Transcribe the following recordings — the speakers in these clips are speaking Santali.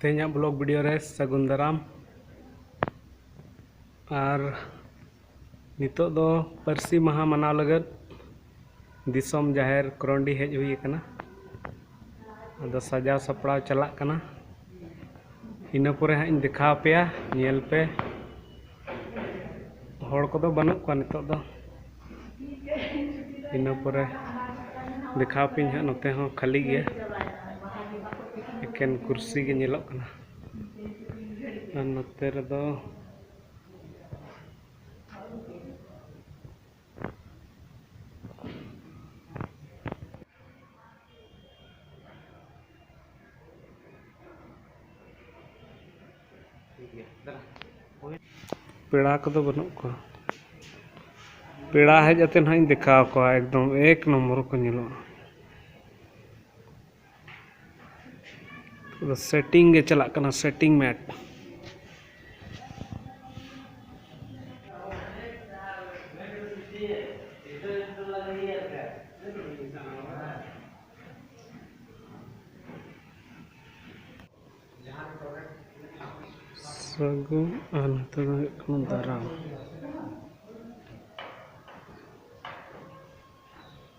ᱛᱮᱦᱮᱧᱟᱜ ᱵᱞᱚᱜ ᱵᱷᱤᱰᱤᱭᱳ ᱨᱮ ᱥᱟᱹᱜᱩᱱ ᱫᱟᱨᱟᱢ ᱟᱨ ᱱᱤᱛᱚᱜ ᱫᱚ ᱯᱟᱹᱨᱥᱤ ᱢᱟᱦᱟ ᱢᱟᱱᱟᱣ ᱞᱟᱹᱜᱤᱫ ᱫᱤᱥᱚᱢ ᱡᱟᱦᱮᱨ ᱠᱚᱨᱚᱱᱰᱤ ᱦᱮᱡ ᱦᱩᱭ ᱟᱠᱟᱱᱟ ᱟᱫᱚ ᱥᱟᱡᱟᱣ ᱥᱟᱯᱲᱟᱣ ᱪᱟᱞᱟᱜ ᱠᱟᱱᱟ ᱤᱱᱟᱹ ᱯᱚᱨᱮ ᱦᱟᱸᱜ ᱤᱧ ᱫᱮᱠᱷᱟᱣ ᱯᱮᱭᱟ ᱧᱮᱞ ᱯᱮ ᱦᱚᱲ ᱠᱚᱫᱚ ᱵᱟᱹᱱᱩᱜ ᱠᱚᱣᱟ ᱱᱤᱛᱚᱜ ᱫᱚ ᱤᱱᱟᱹ ᱯᱚᱨᱮ ᱫᱮᱠᱷᱟᱣ ᱯᱮᱭᱟᱹᱧ ᱦᱟᱸᱜ ᱱᱚᱛᱮ ᱦᱚᱸ ᱠᱷᱟᱹᱞᱤ ᱜᱮᱭᱟ ᱮᱠᱮᱱ ᱠᱩᱨᱥᱤ ᱜᱮ ᱧᱮᱞᱚᱜ ᱠᱟᱱᱟ ᱟᱨ ᱱᱚᱛᱮ ᱨᱮᱫᱚ ᱯᱮᱲᱟ ᱠᱚᱫᱚ ᱵᱟᱹᱱᱩᱜ ᱠᱚᱣᱟ ᱯᱮᱲᱟ ᱦᱮᱡ ᱠᱟᱛᱮ ᱦᱟᱸᱜ ᱤᱧ ᱫᱮᱠᱷᱟᱣ ᱠᱚᱣᱟ ᱮᱠᱫᱚᱢ ᱮᱠ ᱱᱚᱢᱵᱚᱨ ᱠᱚ ᱧᱮᱞᱚᱜᱼᱟ ᱥᱮᱴᱤᱝ ᱜᱮ ᱪᱟᱞᱟᱜ ᱠᱟᱱᱟ ᱥᱮᱴᱤᱝ ᱢᱮᱴ ᱥᱟᱹᱜᱩᱱ ᱟᱨ ᱱᱚᱛᱮ ᱫᱚ ᱦᱩᱭᱩᱜ ᱠᱟᱱᱟ ᱫᱟᱨᱟᱢ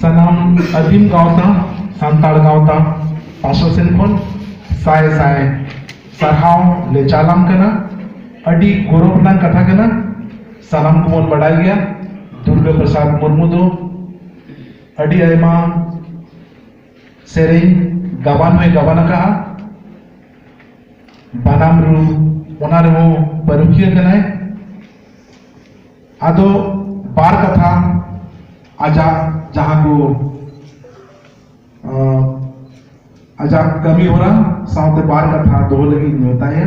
ᱥᱟᱱᱟᱢ ᱟᱹᱫᱤᱢ ᱜᱟᱶᱛᱟ ᱥᱟᱱᱛᱟᱲ ᱜᱟᱶᱛᱟ ᱯᱟᱥᱴᱟ ᱥᱮᱱ ᱠᱷᱚᱱ ᱥᱟᱭ ᱥᱟᱭ ᱥᱟᱨᱦᱟᱣ ᱞᱮ ᱪᱟᱞᱟᱢ ᱠᱟᱱᱟ ᱟᱹᱰᱤ ᱜᱚᱨᱚᱵᱽ ᱨᱮᱱᱟᱜ ᱠᱟᱛᱷᱟ ᱠᱟᱱᱟ ᱥᱟᱱᱟᱢ ᱠᱚᱵᱚᱱ ᱵᱟᱰᱟᱭ ᱜᱮᱭᱟ ᱫᱩᱨᱜᱟᱹ ᱯᱨᱚᱥᱟᱫᱽ ᱢᱩᱨᱢᱩ ᱫᱚ ᱟᱹᱰᱤ ᱟᱭᱢᱟ ᱥᱮᱨᱮᱧ ᱜᱟᱵᱟᱱ ᱦᱚᱸᱭ ᱜᱟᱵᱟᱱ ᱟᱠᱟᱫᱼᱟ ᱵᱟᱱᱟᱢ ᱨᱩ ᱚᱱᱟ ᱨᱮᱦᱚᱸ ᱯᱟᱹᱨᱩᱠᱷᱤᱭᱟᱹ ᱠᱟᱱᱟᱭ ᱟᱫᱚ ᱵᱟᱨ ᱠᱟᱛᱷᱟ ᱟᱡᱟᱜ ᱡᱟᱦᱟᱸ ᱠᱚ ᱟᱡᱟᱜ ᱠᱟᱹᱢᱤ ᱦᱚᱨᱟ ᱥᱟᱶᱛᱮ ᱵᱟᱨ ᱠᱟᱛᱷᱟ ᱫᱚᱦᱚ ᱞᱟᱹᱜᱤᱫ ᱤᱧ ᱢᱮᱛᱟᱭᱟ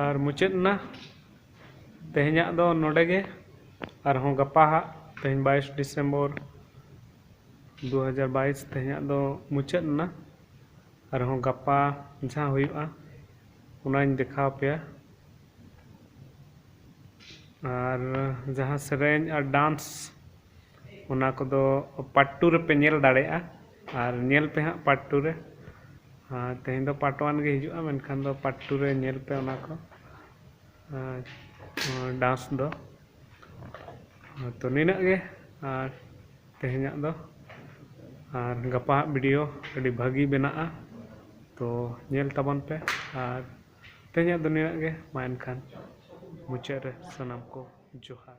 ᱟᱨ ᱢᱩᱪᱟᱹᱫ ᱮᱱᱟ ᱛᱮᱦᱮᱧᱟᱜ ᱫᱚ ᱱᱚᱰᱮ ᱜᱮ ᱟᱨᱦᱚᱸ ᱜᱟᱯᱟ ᱦᱟᱸᱜ ᱛᱮᱦᱮᱧ ᱵᱟᱭᱤᱥ ᱰᱤᱥᱮᱢᱵᱚᱨ ᱫᱩ ᱦᱟᱡᱟᱨ ᱵᱟᱭᱤᱥ ᱛᱮᱦᱮᱧᱟᱜ ᱫᱚ ᱢᱩᱪᱟᱹᱫ ᱮᱱᱟ ᱟᱨᱦᱚᱸ ᱜᱟᱯᱟ ᱡᱟᱦᱟᱸ ᱦᱩᱭᱩᱜᱼᱟ ᱚᱱᱟᱧ ᱫᱮᱠᱷᱟᱣ ᱯᱮᱭᱟ ᱟᱨ ᱡᱟᱦᱟᱸ ᱥᱮᱨᱮᱧ ᱟᱨ ᱰᱟᱱᱥ ᱚᱱᱟ ᱠᱚᱫᱚ ᱯᱟᱴ ᱴᱩ ᱨᱮᱯᱮ ᱧᱮᱞ ᱫᱟᱲᱮᱭᱟᱜᱼᱟ ᱟᱨ ᱧᱮᱞ ᱯᱮ ᱦᱟᱸᱜ ᱯᱟᱴ ᱴᱩ ᱨᱮ ᱟᱨ ᱛᱮᱦᱮᱧ ᱫᱚ ᱯᱟᱴ ᱚᱣᱟᱱ ᱜᱮ ᱦᱤᱡᱩᱜᱼᱟ ᱢᱮᱱᱠᱷᱟᱱ ᱫᱚ ᱯᱟᱴ ᱴᱩ ᱨᱮ ᱧᱮᱞ ᱯᱮ ᱚᱱᱟ ᱠᱚ ᱟᱨ ᱱᱚᱣᱟ ᱰᱟᱱᱥ ᱫᱚ ᱛᱚ ᱱᱤᱱᱟᱹᱜ ᱜᱮ ᱟᱨ ᱛᱮᱦᱮᱧᱟᱜ ᱫᱚ ᱟᱨ ᱜᱟᱯᱟ ᱦᱟᱸᱜ ᱵᱷᱤᱰᱤᱭᱳ ᱟᱹᱰᱤ ᱵᱷᱟᱹᱜᱤ ᱵᱮᱱᱟᱜᱼᱟ ᱛᱚ ᱧᱮᱞ ᱛᱟᱵᱚᱱ ᱯᱮ ᱟᱨ ᱛᱮᱦᱮᱧᱟᱜ ᱫᱚ ᱱᱤᱱᱟᱹᱜ ᱜᱮ ᱢᱟ ᱮᱱᱠᱷᱟᱱ ᱢᱩᱪᱟᱹᱫ ᱨᱮ ᱥᱟᱱᱟᱢ ᱠᱚ ᱡᱚᱦᱟᱨ